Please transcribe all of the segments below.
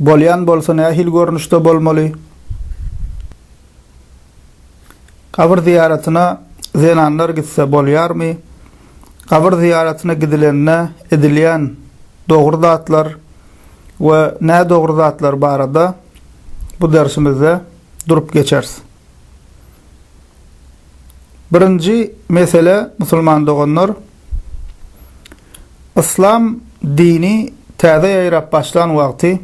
Bolýan bolsa nähili görnüşde bolmaly? Gabyr zyýaratyna zenanlar gitse bolýarmy? Gabyr zyýaratyna gidilende edilýän dogry zatlar we nädogry zatlar barada bu dersimizde durup geçeris. Birinji mesele musulman doganlar, Yslam dini täze ýaýrap başlan wagty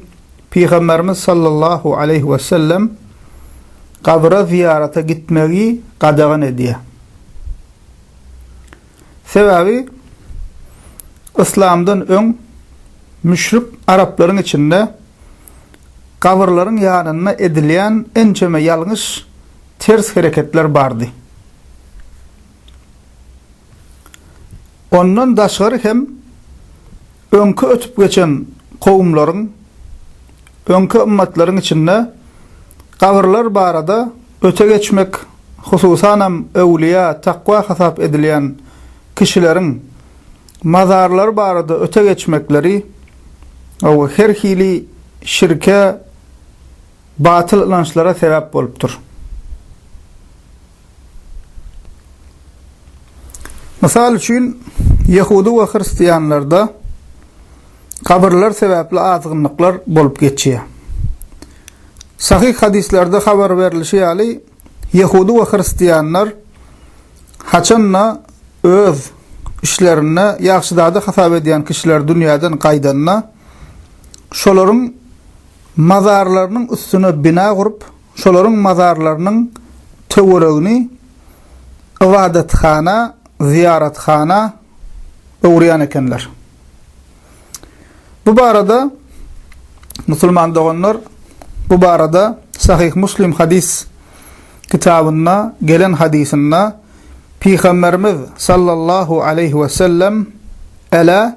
Pygamberimiz sallallahu aleýhi we sellem gabyra zyýarata gitmegi gadagan edýär. Sebäbi Yslamdan öň müşrik araplaryň içinde gabyrlaryň ýanynda edilýän ençeme ýalňyş ters hereketler bardy. Ondan daşgary hem öňki ötüp geçen kowumlaryň, öňki ymmatlaryň içinde gabyrlar barada öte geçmek, hususanam öwlüýä, takwa hasap edilýän kişileriň mazarlary barada öte geçmekleri we her hili şirke, batyl ynançlara sebäp bolupdyr. Mysal üçin, ýehudy we hristianlarda kabyrlar sebäpli azgynlyklar bolup geçýär. Sahyh hadyslarda habar berlişi ýaly, ýehudy we hristianlar haçan-da öz işlerinde ýagşy zady hasap edýän kişiler dünýäden gaýdanda, şolaryň mazarlarynyň üstüne bina gurup, Şolaryň mazarlarynyň töweregini ybadathana, zyýarathana öwürýän ekenler. Bu barada, musulman doganlar, bu barada Sahyh Muslim hadys kitabynda gelen hadysynda Pygamberimiz sallallahu aleýhi wesellem, Elä!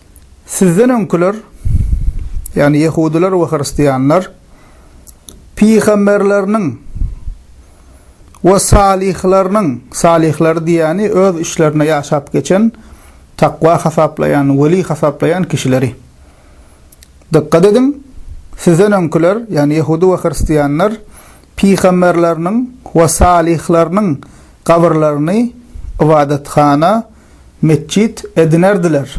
Sizden öňküler, ýagny ýehudylar we hristianlar, pygamberleriniň we salyhlarynyň, salyhlary diýýäni öz işlerinde ýaşap geçen, takwa hasaplaýan, weli hasaplaýan kişileri. Dykgat ediň, sizden öňküler, ýagny ýehudy we hristianlar, pygamberleriniň we salyhlarynyň gabyrlaryny ybadathana, metjit edinerdiler.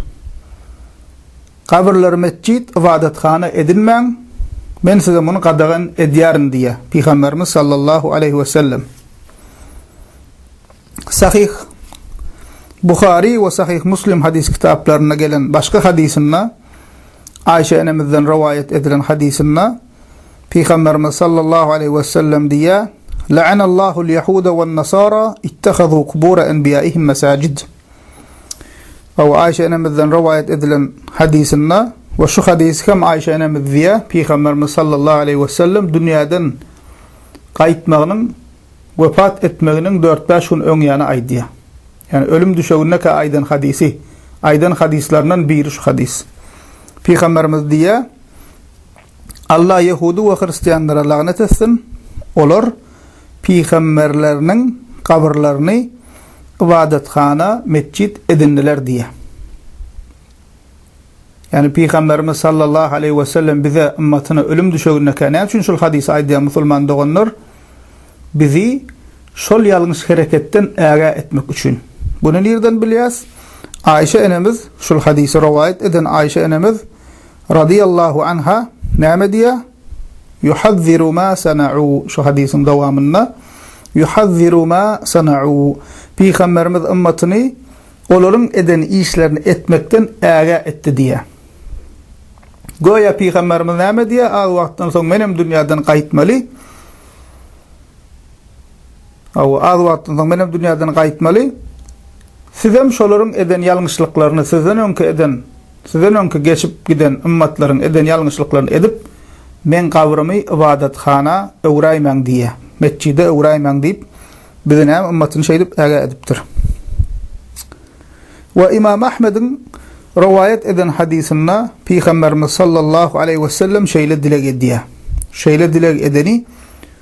Gabyrlary metjit, ybadathana edinmäň, men size muny gadagan edýärin diýýär Pygamberimiz sallallahu aleýhi wesellem. Sahyh Buhary we Sahyh Muslim hadys kitaplarynda gelen başga hadysynda Aýşe enemizden rowaýat edilen hadysynda Pygamberimiz sallallahu aleýhi we sellem diýýär, La'anallahul yahuda wan nasara ittahazu kubura enbiýaihim masajid. Aw Aýşe enemizden rowaýat edilen hadysynda we şu hadysy hem Aýşe enemiz diýýär, Pygamberimiz sallallahu aleýhi we sellem dünýäden gaýtmagynyň wepat etmeginiň dört-bäş gün öňýany aýdýar. Ýagny ölüm düşegindeka aýdan hadysy, aýdan hadyslaryndan biri şu hadys. Pygamberimiz diýýär, Allah ýehudy we hristianlara lagnet etsin, olar pygamberleriniň gabyrlaryny ybadathana, metjit, edindiler diýýär. Ýagny pygamberimiz sallallahu aleýhi we sellem bize ymmatyna ölüm düşegindekä näme üçin şul hadysy aýdýar musulman doganlar? Bizi şol ýalňyş hereketden ägä etmek üçin. Buny nirden bilýäs? Aýşe enemiz şul hadysy rowaýat eden Aýşe enemiz Radiyallahu anha näme diýýär? Yuhazziru ma sana'u, şu hadysyň dowamynda, Yuhazziru ma sana'u, Pygamberimiz ymmatyny olaryň eden işlerini etmekden ägä etdi diýýär. Göýä Pygamberimiz näme diýýär, az wagtdan soň menem dünýäden gaýtmaly. Hawa, az wagtdan soň menem dünýäden gaýtmaly. Sizem şolaryň eden ýalňyşlyklaryny, sizden öňki eden, sizden öňki geçip giden ymmatlaryň eden ýalňyşlyklaryny edip, meň gabrymy ybadathana öwräýmäň diýýä. Metjide öwräýmäň diýip, biziňem ymmatyny şeýdip ägä edipdir. We Ymam Ahmediň rowaýat eden hadysynda Pygamberimiz sallallahu aleýhi wesellem şeýle dileg edýär. Şeýle dileg edeni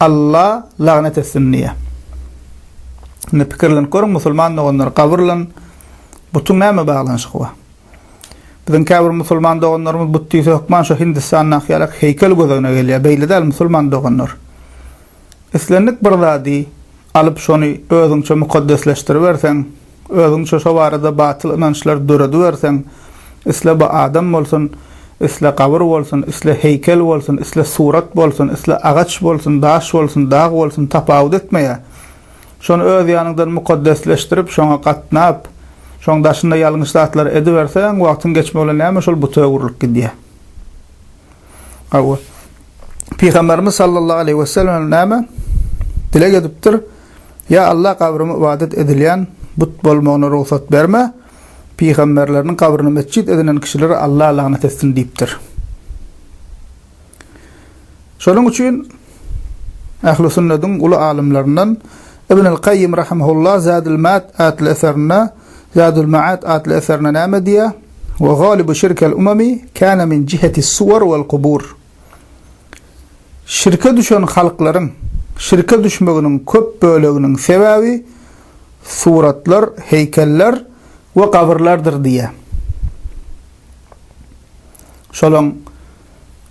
Alla lagnet etsin diýýä. Indi pikirlenip görüň musulman doganlar gabyr bilen butuň näme baglanyşygy bar? Biziň käbir musulman doganlarymyz but diýse hökman şo Hindistandaky ýalak heýkel göz öňüne gelýär. Beýle däl musulman doganlar. Islendik bir zady alyp, şony özüňçe mukaddesleşdiriberseň, özüňçe şo barada batyl ynançlar dörediberseň, isle bu adam bolsun, isle gabyr bolsun, isle heýkel bolsun, isle surat bolsun, isle agaç bolsun, daş bolsun, dag bolsun, tapawut etmeýär, şony öz ýanyňdan mukaddesleşdirip, şoňa gatnap, şoň daşynda ýalňyş zatlary ediberseň, wagtyň geçmegi bilen näme şol buta öwrülip gidýär. Hawa. Pygamberimiz sallallahu aleyhi ve sellem näme dileg edipdir? Ya Allah kabrymy ibadet edilýän but bolmagyna rugsat berme. Pygamberleriniň kabryny mesjit edinen kişileri Allah lagnet etsin diýipdir. Şonuň üçin Ähli sünnetiň uly alymlaryndan Ibn al-Qayyim rahimehullah Zadul Mat atly eserinde Zadul-Ma'ad atly eserinde näme diýýär? Wa galibu şirkel umami kana min jihetis suwar wal kubur. Şirke düşen halklaryň şirke düşmeginiň köp böleginiň sebäbi suratlar, heýkeller we gabyrlardyr diýýär. Şolaň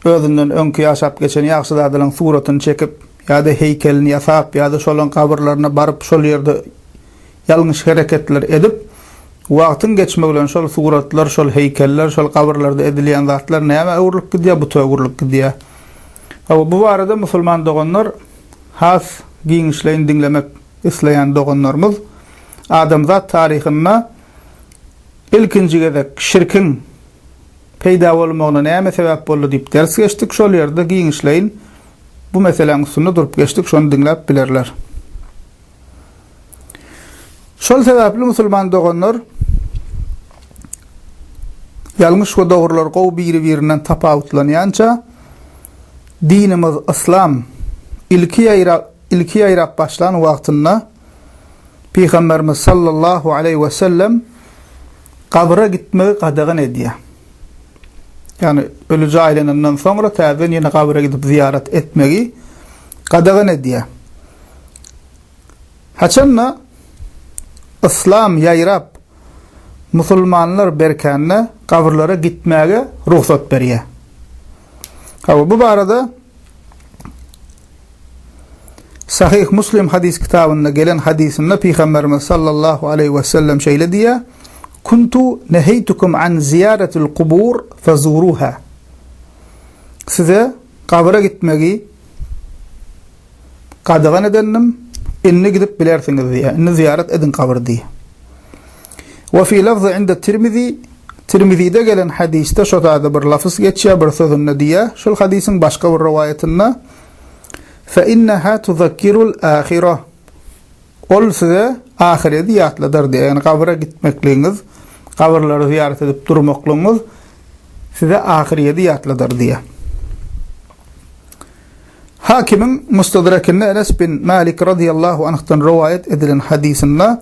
özünden öňki ýaşap geçen ýagşy zadalaň suratyny çekip ýa-da heýkelini ýasap ýa-da şolaň gabyrlaryna baryp şol ýerde Ýalňyş hereketler edip, wagtyň geçmegi bilen şol suratlar, şol heýkeller, şol gabyrlarda edilýän zatlar nämä öwrülip gidýär, buta öwrülip gidýär. Hawa, bu barada musulman doganlar has giňişleýin diňlemek isleýän doganlarymyz adamzat taryhynda ilkinji gezek şirkiň peýda bolmagyna näme sebäp boldy diýip ders geçdik, şol ýerde giňişleýin bu meseläň üstünde durup geçdik, şony diňläp bilerler. Şol sebäpli musulman doganlar ýalňyş we dogrular gowy biri-birinden tapawutlanýança dinimiz Yslam ilki ýaýrap ilki ýaýrap başlan wagtynda Pygamberimiz sallallahu aleýhi we sellem gabra gitmegi gadagan edýär. ýagny ölüje aýlanandan soňra täzeden ýene gabyra gidip zyýarat etmegi gadagan edýär. Haçanda yslam ýaýrap, musulmanlar berkände gabyrlara gitmäge rugsat berýär. Hawa, bu barada Sahyh Muslim hadys kitabynda gelen hadysynda Pygamberimiz sallallahu aleýhi wesellem şeýle diýýär, Kuntu neheýtukum an zyýaratil kubur fezuruha. Size gabyra gitmegi gadagan edendim, indi gidip bilersiňiz diýýär. Indi zyýarat ediň gabyry diýýär. Wa fi lafzy inda Tirmizi, Tirmizide gelen hadysda şo zada bir lafz geçýär, bir sözünde diýýär, şol hadysyň başga bir rowaýatynda, Fe inneha tuzakkirul ahirah, Ol size ahyredi ýatladar diýýär, ýagny gabyra gitmekligiňiz, gabyrlary zyýarat edip durmaklygyňyz size ahyredi ýatladar diýýär. Hakimiň Mustadrakynda Enes bin Malik radiyallahu anhdan rowaýat edilen hadysynda,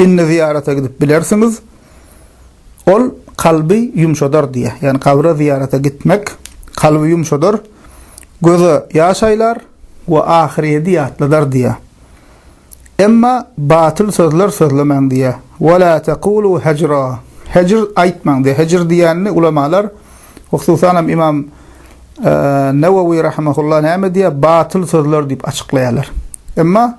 Indi zyýarata gidip bilersiňiz. Ol kalby ýumşadar diýýär. Ýagny kabra zyýarata gitmek kalby ýumşadar, göze ýaş aýlar we ahyrýeti ýatladar diýýär. Emma batyl sözler sözlemäň diýýär. Wa la tekulu hejra. Hejr aýtmaň diýýär. Hejr diýýänini ulamalar, hususan hem Imam Nawawi rahimehullah näme diýýär? Batyl sözler diýip açyklaýarlar. Emma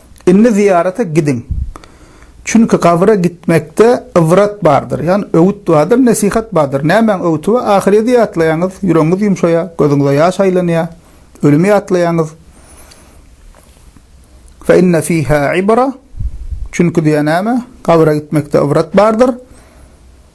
Indi zyýarata gidiň. Çünki gabyra gitmekde ybrat bardyr, ýagny öwüt bardyr, nesihat bardyr. Nämäň öwüti we ahyrýeti ýatlaýaňyz, ýüregiňiz ýumşaýar, gözüňize ýaş aýlanýar, ölümi ýatlaýaňyz. Fe inne fiha ibra, çünki diýýär näme? Gabyra gitmekde ybrat bardyr.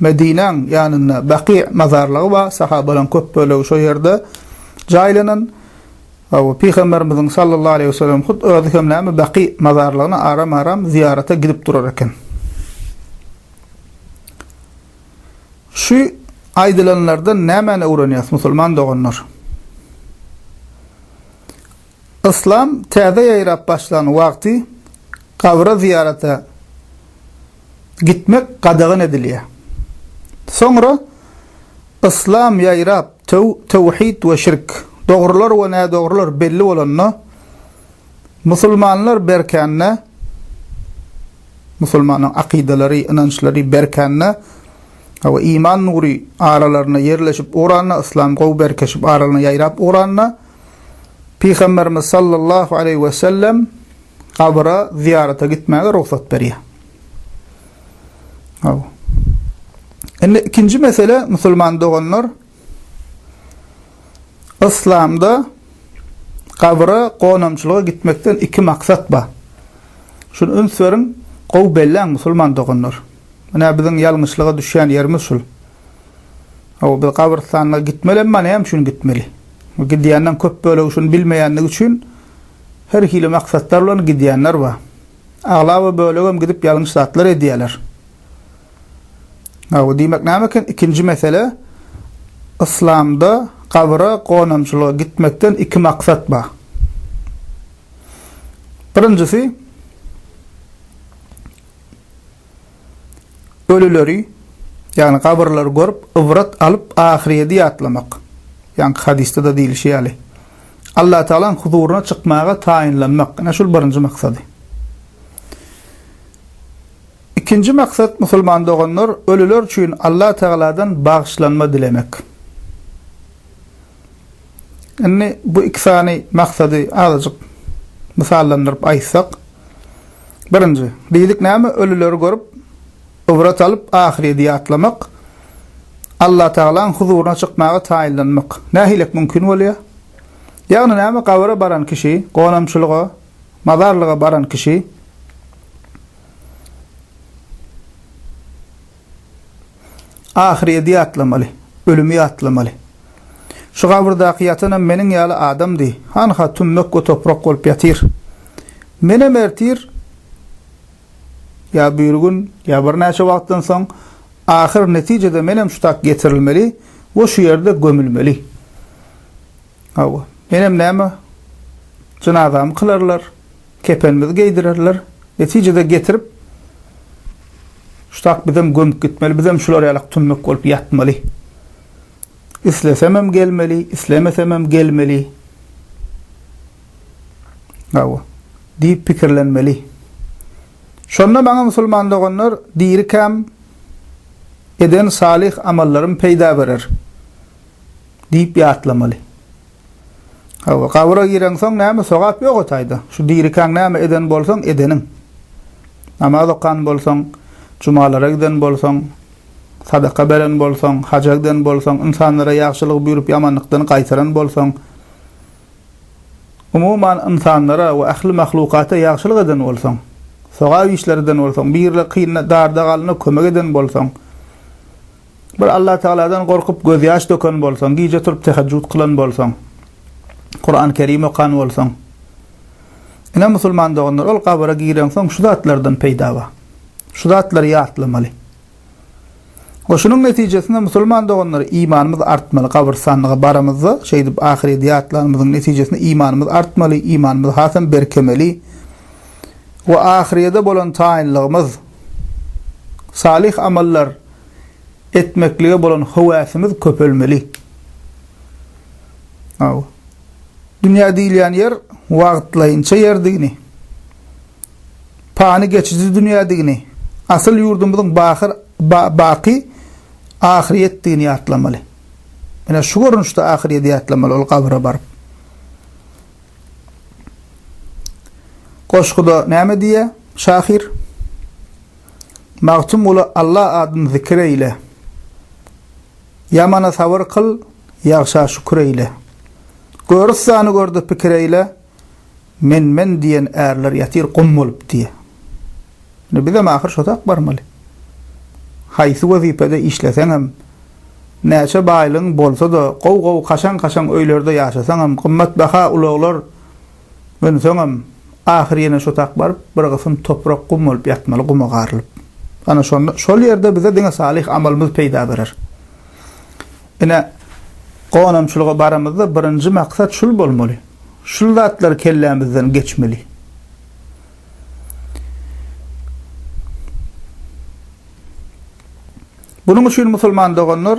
Medinäň ýanynda Baky mazarlygy bar, sahabalaryň köp bölegi şo ýerde jaýlanan. Hawa, Pygamberimiziň sallallahu aleýhi wesellem hut özi hem näme Baky mazarlygyna aram-aram zyýarata gidip durar eken. Şu aýdylanlardan nämäni öwrenýäs, musulman doganlar? Yslam täze ýaýrap başlan wagty gabra zyýarata gitmek gadagan edilýär. Soňra Yslam ýaýrap, töwhid we şirk, dogrular we nädogrular belli bolanda, musulmanlar berkände, musulmanyň akydalary, ynançlary berkände we iman nury aralaryna ýerleşip ugranda, yslam gowy berkeşip aralyna ýaýrap ugranda, Pygamberimiz sallallahu aleýhi we sellem gabra zyýarata gitmäge rugsat berýär. Aw. Indi ikinji mesele musulman doganlar Islamda gabra gonamçylyga gitmekden iki maksat bar. Şunu üns beriň, gowy belläň musulman doganlar. Menä biziň ýalňyşlyga düşýän ýerimiz şul. Aw, biz gabrystanlyga gitmeli, emma näme üçin gitmeli? Gidýänleriň köp bölegi şuny bilmeýändigi üçin her hili maksatlar bilen gidýänler bar. Aglaba bölegem gidip ýalňyş zatlar edýärler. Gaby diýmek näme eken? Ikinji mesele, Yslamda gabyra gonamçylyga gitmekden iki maksat bar. Birinjisi, Ölüleri, ýagny gabyrlary görüp, ybrat alyp, ahyrýedi ýatlamak. Ýaňky hadysda-da diýlişi ýaly, Allatagalaň huzuryna çykmaga taýynlanmak, ine, şul birinji maksady. Ikinji maksat, musulman doganlar, ölüler üçin Allatagaladan bagyşlanma dilemek. Indi bu iki sany maksady azajyk mysallandyryp aýtsak, Birinji, diýdik näme, ölüleri görüp, ybrat alyp, ahyrýeti ýatlamak, Allatagalaň huzuryna çykmaga taýynlanmak nähilek mümkin bolýar? Ýagny näme, gabyra baran kişi, gonamçylyga, mazarlyga baran kişi, Ahyrýeti ýatlamaly, ölümi ýatlamaly. Şu gabyrdaky ýatanam meniň ýaly adamdy, hanha tümmek we toprak bolup ýatyr. Menem ertir, ýa birigün, ýa birnäçe wagtdan soň, ahyr netijede menem şu tak getirilmeli we şu ýerde gömülmeli. Hawa, menem näme, jynazamy kylarlar. Kepenimizi geýdirerler. Netijede getirip şutak bizem gömüp gitmeli, bizem şular ýalak tümmek bolup ýatmaly. Islesemem gelmeli, islemesemem gelmeli. Hawa. Diýip pikirlenmeli. Şonda maňa musulman doganlar dirikäm eden salyh amallarym peýda berer. Diýip ýatlamaly. Hawa, gabra gireňsoň näme sogap ýoga taýda. Şu dirikäň näme eden bolsaň, edeniň. Namaz okan bolsaň, jumalara giden bolsaň, sadaka beren bolsaň, haja giden bolsaň, ynsanlara ýagşylygy buýrup ýamanlykdan gaýtaran bolsaň, umuman ynsanlara we ähli mahlukata ýagşylyk eden bolsaň, sogap işler eden bolsaň, birine, kynyna, darda galana kömek eden bolsaň, Bir Allatagaladan gorkup gözýaş döken bolsaň, gije turup tehejjüt kylan bolsaň, Kuran-Kerim okan bolsaň, ine musulman doganlar, ol gabra gireňsoň şu zatlardan peýda bar. Şu zatlary ýatlamaly. We şunuň netijesinde musulman doganlar, imanymyz artmaly. Gabrystanlyga baramyzda, şeýdip ahyreti ýatlanymyzyň netijesinde imanymyz artmaly, imanymyz hasam berkemeli we ahyrete bolan taýynlygymyz, salyh amallar, etmeklige bolan höwäsimiz köpelmeli. Aw. Dünýä diýilýän ýer wagtlaýynça ýerdigini, pany geçiji dünýädigini, asyl ýurdumyzyň bahyr, ba, baky ahyryýetdigini ýatlamaly. Menä şu görnüşde ahyryýeti ýatlamaly ol gabra baryp. Goşguda näme diýýär şahyr? Magtymgula Alla adyn zikir eýle. Ýamana sabyr kyl, ýagşa şükür eýle. Görüssany görde pikir eýle, Men, men diýen ärler ýatyr gum bolup diýe. Indi bizem ahyr şo tak barmaly. Haýsy wezipede işleseňem, näçe baýlygyň bolsa-da, gowy-gowy kaşaň-kaşaň öýlerde ýaşasaňam, gymmatbaha ulaglar, Öňsoňam, ahyr ýene şo tak baryp, bir gysym toprak gum bolup ýatmaly, guma garylyp. Ana şonda, şol ýerde bize diňe salyh amalymyz peýda berer. Ine, gonamçylyga baramyzda birinji maksat şul bolmaly. Şul zatlar kellämizden geçmeli. Bunuň üçin musulman doganlar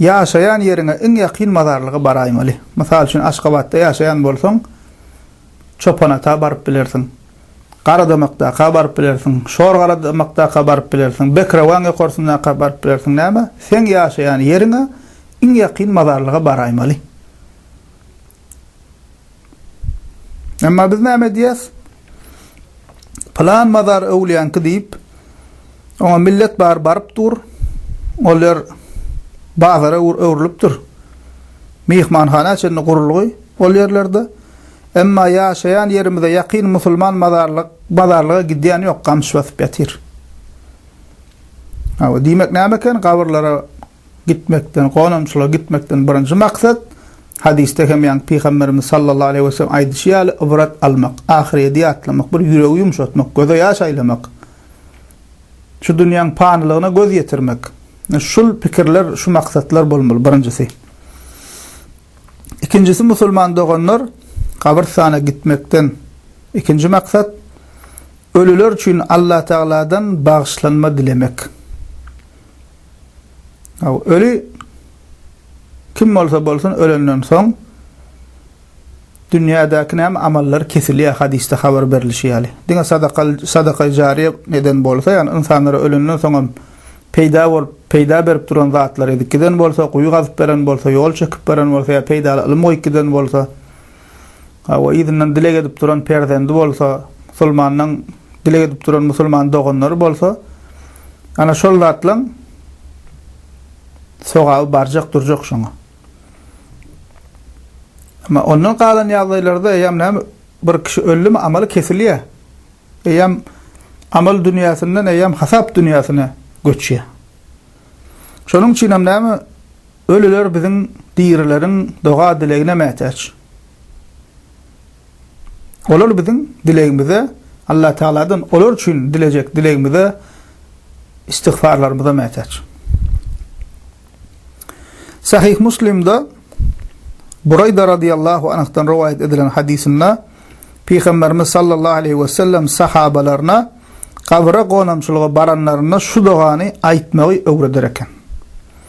ýaşaýan ýeriňe iň ýakyn mazarlyga baraýmaly. Mysal üçin, Aşgabatda ýaşaýan bolsaň, Çopanata baryp bilersiň, Garadamakdaka baryp bilersiň, Şorgaradamakdaka baryp bilersiň, Bekrewaň ýokarsyndaka baryp bilersiň. Näme? Seň ýaşaýan ýeriňe iň ýakyn mazarlyga baraýmaly. Emma biz näme edýäs? Plan mazar öwlýänki diýip, oňa millet bar baryp dur. Ol ýer bazara öwrülipdir. Myhmanhana çenli gurulgy ol ýerlerde. Emma ýaşaýan ýerimize ýakyn musulman mazarlyk, bazarlyga gidýän ýok, gamyş basyp ýatyr. Hawa, diýmek näme eken? Gabyrlara Gitmekden, gonamçylyga gitmekden birinji maksat, hadysda hem ýaňky Pygamberimiz sallallahu aleýhi weselem aýdyşy ýaly, ybrat almak, ahyrýeti ýatlamak, bir ýüregi ýumşatmak, göze ýaş aýlamak, şu dünýäň panylygyna göz ýetirmek, şul pikirler, şu maksatlar bolmaly birinjisi. Ikinjisi musulman doganlar, gabrystana gitmekden ikinji maksat, ölüler üçin Allatagladan bagyşlanma dilemek. Öli kim bolsa bolsun ölenden soň dünýädäki näme amallary kesilýär hadysda habar berlişi ýaly. Diňe sadaka sadaka jariýe eden bolsa ýagny ynsanlara ölenden soňam peýda bolup peýda berip duran zatlar edip giden bolsa guýy gazyp beren bolsa ýol çekip beren bolsa ýa peýdaly ylym goýup giden bolsa Hawa, yzyndan dileg edip duran perzendi bolsa, musulmandan dileg edip duran musulman doganlary bolsa, ana şol zatlaň sogaby barjak durjak şoňa. Emma ondan galan ýagdaýlarda eýýäm näme bir kişi öldümi amaly kesilýär. Eýýäm amal dünýäsinden eýýäm hasap dünýäsine göçýär. Şonuň üçin hem näme Ölüler biziň dirileriň doga-dilegine mätäç. Olar biziň dilegimize, Allatagaladan olar üçin dilejek dilegimize, istigfarlarymyza mätäç. Sahyh Muslimde Buraýda radyýallahu anhdan rowaýat edilen hadysynda Pygamberimiz sallallahu aleyhi ve sellem sahabalaryna gabyra gonamçylyga baranlarynda şu dogany aýtmagy öwreder eken.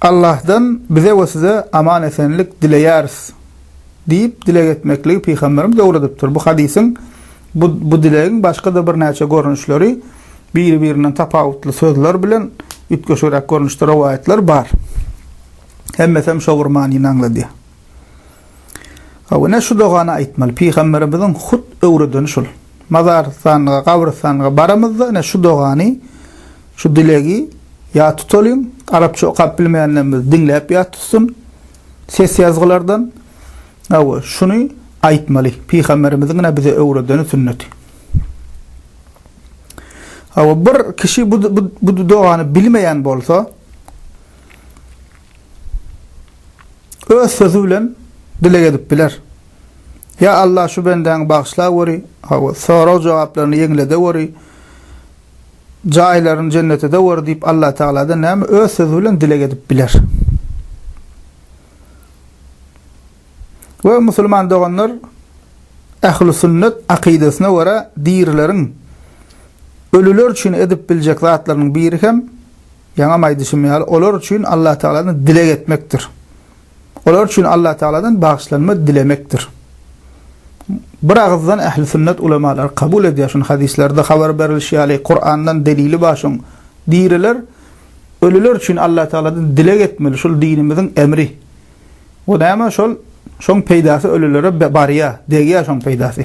Allahdan bize we size aman-esenlik dileýäris diýip dileg etmekligi pygamberimiz öwredipdir. Bu hadysyň bu bu dilegiň başga-da birnäçe görnüşleri biri-birinden tapawutly sözler bilen üýtgeşigräk görnüşde rowaýatlar bar. Hemmesem şo bir manyny aňladýar. Hawa, ine şu dogany aýtmaly. Pygamberimiziň hut öwredeni şul. Mazarstanlyga, gabrystanlyga baramyzda, ine şu dogany, şu dilegi ýat tutalyň. Arapça okap bilmeýänlerimiz diňläp ýat tutsyn ses ýazgylardan. Hawa, şuny aýtmaly. Pygamberimiziň ine bize öwredeni sünneti. Hawa, bir kişi bu dogany bilmeýän bolsa, öz sözi bilen dileg edip biler. Ýa Allah şu bendäňi bagyşla göri, hawa, sorag jogaplaryny ýeňlede göri, jaýlaryny jennetede göri diýip Allah Tagaladan näme öz sözi bilen dileg edip biler. We musulman doganlar ähli sünnet akydasyna görä dirileriň ölüler üçin edip biljek zatlarynyň biri hem Ýaňam aýdyşym ýaly, olar üçin Allatagaladan dileg etmekdir. Olar üçin Allatagaladan bagyşlanma dilemekdir. Bir agyzdan ähli sünnet ulamalary kabul edýär şuny, hadyslarda habar berilişi ýaly, Kurandan delili bar şoň. Diriler, ölüler üçin Allatagaladan dileg etmeli, şul dinimiziň emri. Bu näme şol, şoň peýdasy ölülere barýar, degýär şoň peýdasy.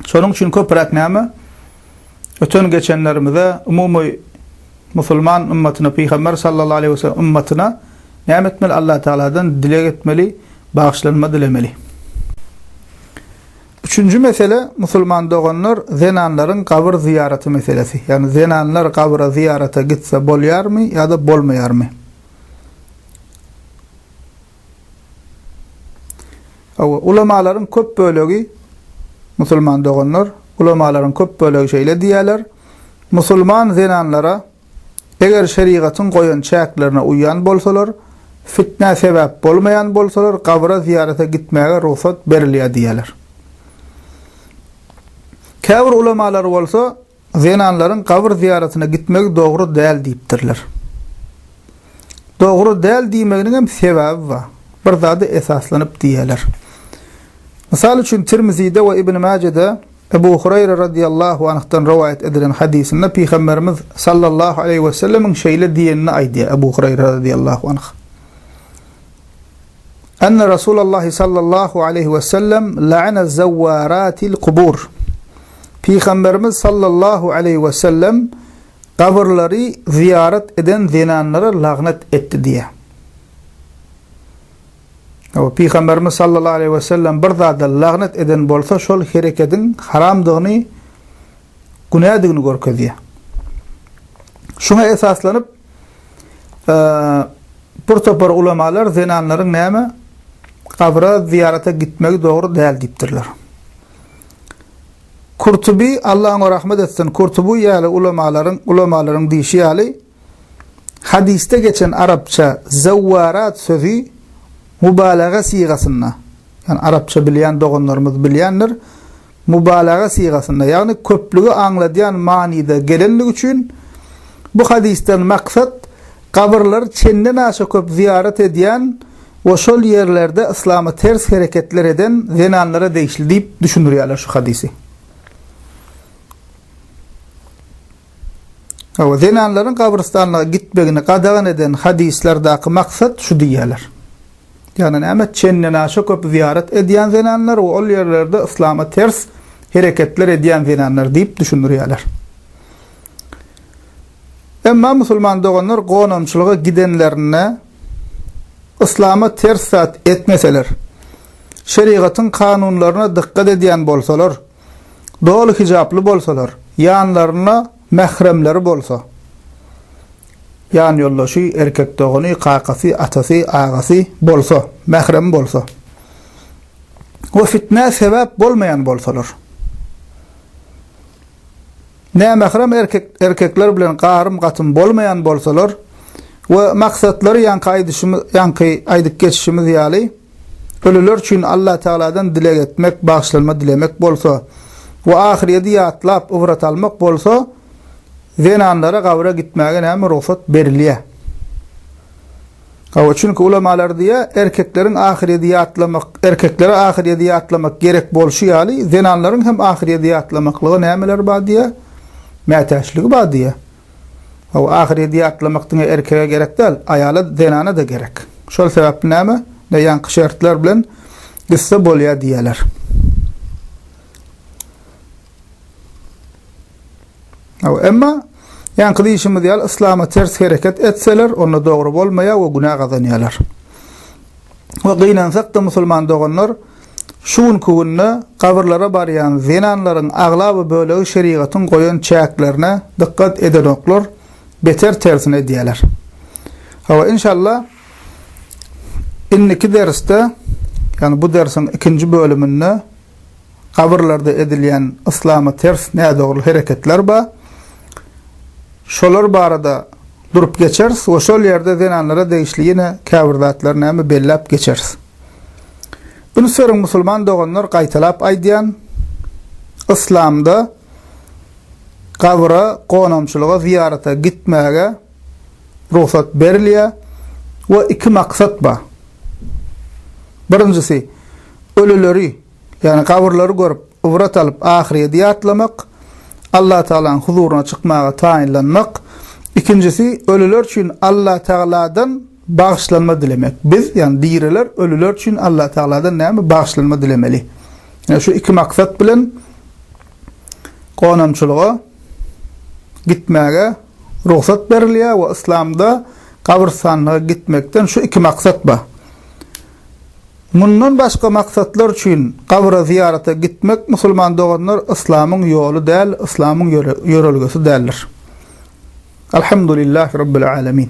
Şonuň üçin köpräk näme? Öten-geçenlerimize, umumy musulman ymmatyna, Pygamber sallallahu aleýhi we sellem ymmatyna näme etmeli? Allatagaladan dileg etmeli, bagyşlanma dilemeli. Üçünji mesele, musulman doganlar, zenanlaryň gabyr zyýaraty meselesi. Ýagny zenanlar gabra zyýarata gitse bolýarmy ýa-da bolmaýarmy? Hawa, ulamalaryň köp bölegi, musulman doganlar, ulamalaryň köp bölegi şeýle diýýärler, Musulman zenanlara, eger şerigatyň goýan çäklerine uýýan bolsalar, fitnä sebäp bolmaýan bolsalar, gabra zyýarata gitmäge rugsat berilýär diýýärler. Käbir ulamalar bolsa, Zenanlaryň gabyr zyýaratyna gitmegi dogry däl diýipdirler. Dogry däl diýmeginiňem sebäbi bar. Bir zada esaslanyp diýýärler. Mysal üçin Tirmizide we Ibn Mäjede Ebu Hureýre radyýallahu anhdan rowaýat edilen hadysynda Pygamberimiz sallallahu aleýhi wesellemiň şeýle diýenini aýdýar, Ebu Hureýre radyýallahu anh, Enne Rasulallahi sallallahu aleýhi we sellem la'ana zawwaratil kubur. Pygamberimiz sallallahu aleýhi we sellem gabyrlary zyýarat eden zenanlara lagnat etdi diýýär. Hawa, Pygamberimiz sallallahu aleýhi we sellem bir zada lagnat eden bolsa, şol herekediň haramdygyny, günädigini görkezýär. Şuňa esaslanyp, bir topar ulamalar zenanlaryň näme gabra zyýarata gitmegi dogry däl diýipdirler. Kurtubi Allah oňa rahmet etsin, Kurtubi ýaly ulamalaryň ulamalaryň diýşi ýaly hadysda geçen arapça zawwarat sözi mubalaga sygasynda, ýani arapça bilýän doganlarymyz bilýändir, mubalaga sygasynda, ýagny köplügi aňladýan manyda gelendigi üçin, bu hadysdan maksat gabyrlary çendenaşa köp zyýarat edýän we şol ýerlerde yslama ters hereketler eden zenanlara degişli diýip düşündirýärler şu hadysy. Hawa, zenanlaryň gabrystanlyga gitmegini gadagan eden hadyslardaky maksat şu diýýärler. Ýagny näme? Çendenaşa köp zyýarat edýän zenanlar we ol ýerlerde yslama ters hereketler edýän zenanlar diýip düşündirýärler. Emma musulman doganlar gonamçylyga gidenlerinde yslama ters zat etmeseler, şerigatyň kanunlaryna dykgat edýän bolsalar, doly hijaply bolsalar, ýanlarynda mähremleri bolsa, ýanýoldaşy, erkek dogany, kakasy, atasy, agasy, bolsa, mähremi bolsa we fitnä sebäp bolmaýan bolsalar. Nämährem erkek, erkekler bilen garym-gatym bolmaýan bolsalar we maksatlary ýaňky aýdyşymyz, ýaňky aýdyp geçişimiz ýaly, Ölüler üçin Allatagaladan dileg etmek, bagyşlanma dilemek bolsa we ahyrýeti ýatlap, ybrat almak bolsa, zenanlara gabra gitmäge näme rugsat berilýär? Hawa, çünki ulamalar diýýär, erkekleriň ahyrýeti ýatlamak, erkeklere ahyrýeti ýatlamak gerek bolşy ýaly, zenanlaryň hem ahyrýeti ýatlamaklyga nämeleri bar diýýär? Mätäçligi bar diýýär. Hawa, ahyredi atlamak diňe erkege gerek däl, aýala, zenana-da gerek. Şol sebäpli näme, ne ýaňky şertler bilen gitse bolýar diýýärler. Hawa, emma ýaňky diýşimiz ýaly yslama ters hereket etseler, onda dogry bolmaýar we günä gazanýarlar. We gynansak-da musulman doganlar, Şu günki günde gabyrlara barýan zenanlaryň aglaba bölegi şerigatyň goýan çäklerine dykgat edenoklar, beter tersine edýärler. Hawa, inşallah, indiki dersde, ýagny bu dersiň ikinji bölüminde gabyrlarda edilýän yslama ters nädogry hereketler bar. Şolar barada durup geçeris we şol ýerde zenanlara degişli ýene käbir zatlar näme belläp geçeris. Üns beriň musulman doganlar gaýtalap aýdýan Yslamda gabyra gonamçylyga zyýarata gitmäge rugsat berilýä we iki maksat ba. Birinjisi ölüleri ýagny gabyrlary görüp ybrat alyp ahyrýedi ýatlamak Allah Tagalaň huzuryna çykmaga taýynlanmak ikinjisi ölüler üçin Allah Tagaladan Bagyşlanma dilemek. Biz, ýagny diriler, ölüler üçin Allatagaladan näme bagyşlanma dilemeli? Ine, şu iki maksat bilen gonamçylyga gitmäge rugsat berilýär we yslamda gabrystanlyga gitmekden şu iki maksat bar. Mundan başga maksatlar üçin gabra zyýarata gitmek, musulman doganlar, yslamyň ýoly däl, yslamyň ýörelgesi däldir. Alhamdulillah Rabbil Alamin.